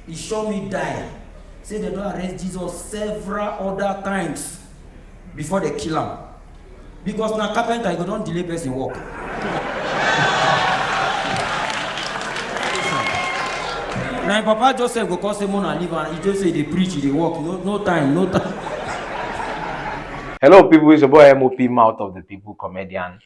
e sure me die say dem don arrest jesus several other times before dem kill am because na carpenter e go don delay person work na im papa joseph go come say mona leave am e just say e dey preach e dey work no no time no time. Hello, people. It's your boy MOP, mouth of the people comedian.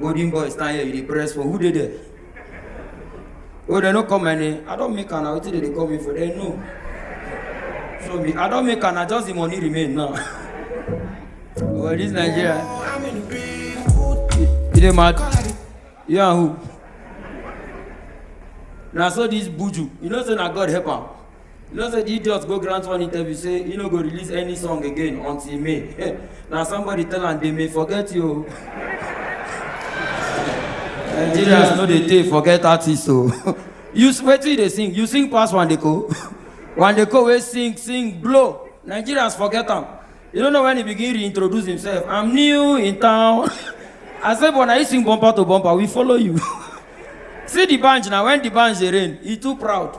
Golden boy stand here, you dey press for who dey there? Oh, they no call my name. I don't make an out they dey call me for they no. So me, I don't make an I just the money remain now. well, this Nigeria. You dey mad? You and who? Now so this buju, you know say na God help am. You know say the idiot go grant one interview say he no go release any song again until May. Hey, na somebody tell am they may forget you. o. Nigerians no dey take forget artists o. You s- wetin you dey sing? You sing pass Wandeko. Wandeko wey sing sing blow. Nigerians forget am. You no know when he begin reintroduce himself. I'm new in town. I say but na you sing bumper to bumper we follow you. See the band na when the band dey rain he too proud.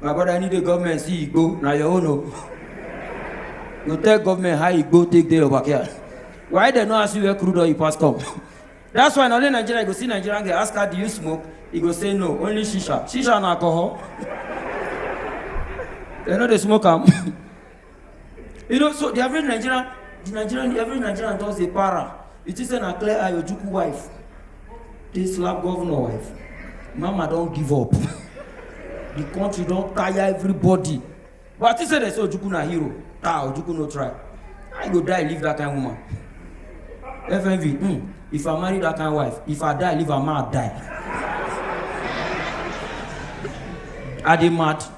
My brother, I need the government see you go. Now your own. oh. You tell government how you go take day over here. Why they not ask you where crude oil you pass come? That's why na only Nigeria you go see Nigerian girl ask her do you smoke? He go say no, only shisha. Shisha and alcohol. they know they smoke am. you know so the average nigerian the nigerian the average nigerian just dey para you think say na clear eye ojukwu wife dey slap governor wife mama don give up the country don tire everybody but i think say dem say ojukwu na hero ah ojukwu no try i go die leave that kind woman fmv hmm if i marry that kind wife if i die leave am ma die i dey mad.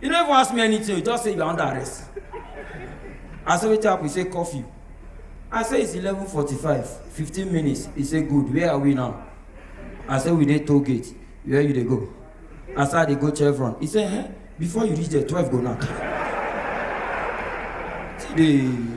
You no even ask me anything, you just say you are under arrest. I say wetin happen? He say curfew. I say it's 11:45, 15 minutes. He say good, where are we now? I say we dey toll gate, where you dey go? I say I dey go Chevron. He say eh, before you reach there, 12 go knack. See the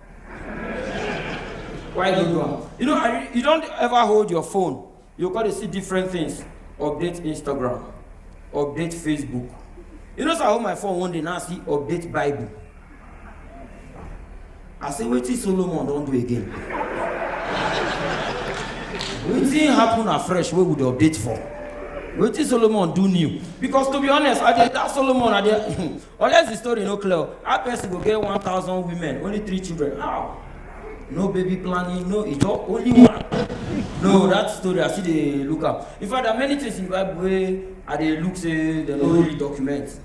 why you do am you know i you don ever hold your phone you go dey see different things update instagram update facebook you know say i hold my phone one day now see update bible i say wetin solomon don do again wetin happen afresh wey we dey update for wetin solomon do new because to be honest i dey that solomon i dey Unless the story no clear, how person go get 1,000 women, only three children? How? No baby planning, no ijo, only one. No, that story I see dey look am. In fact, there are many things in the Bible wey I dey look say dem no really document.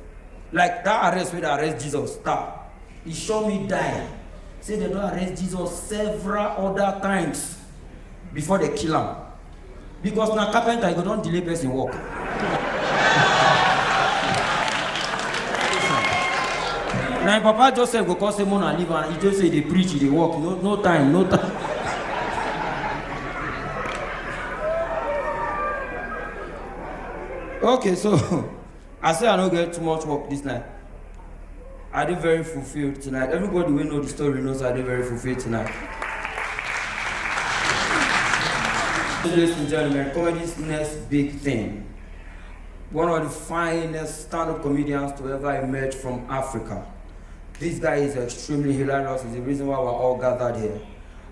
Like that arrest wey dey arrest Jesus, star, e sure me die. Say dem don arrest Jesus several other times before dem kill am. because na carpenter you go don delay person work. na im papa joseph go come say mona leave am he just say dey preach he dey work no no time no time. okay so I say I no get too much work this night. I dey very fulfilled tonight. Everybody wey know the story knows I dey very fulfilled tonight. Ladies and gentlemen, comedy's next big thing. One of the finest stand-up comedians to ever emerge from Africa. This guy is extremely hilarious. It's the reason why we're all gathered here.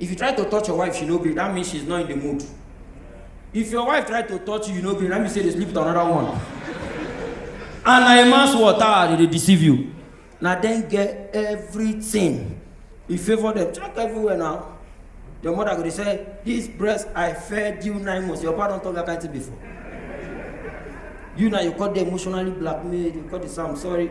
If you try to touch your wife, she no gree. That means she's not in the mood. If your wife try to touch you, you no gree. That means say they sleep with another one. and na a man's water ah, they dey deceive you. Na dem get everything. You favour them. Check everywhere now. Your mother go dey say, this breast I fed you nine months. Your papa don talk that kind thing before. You now you call the emotionally blackmailed. You call the Sam sorry.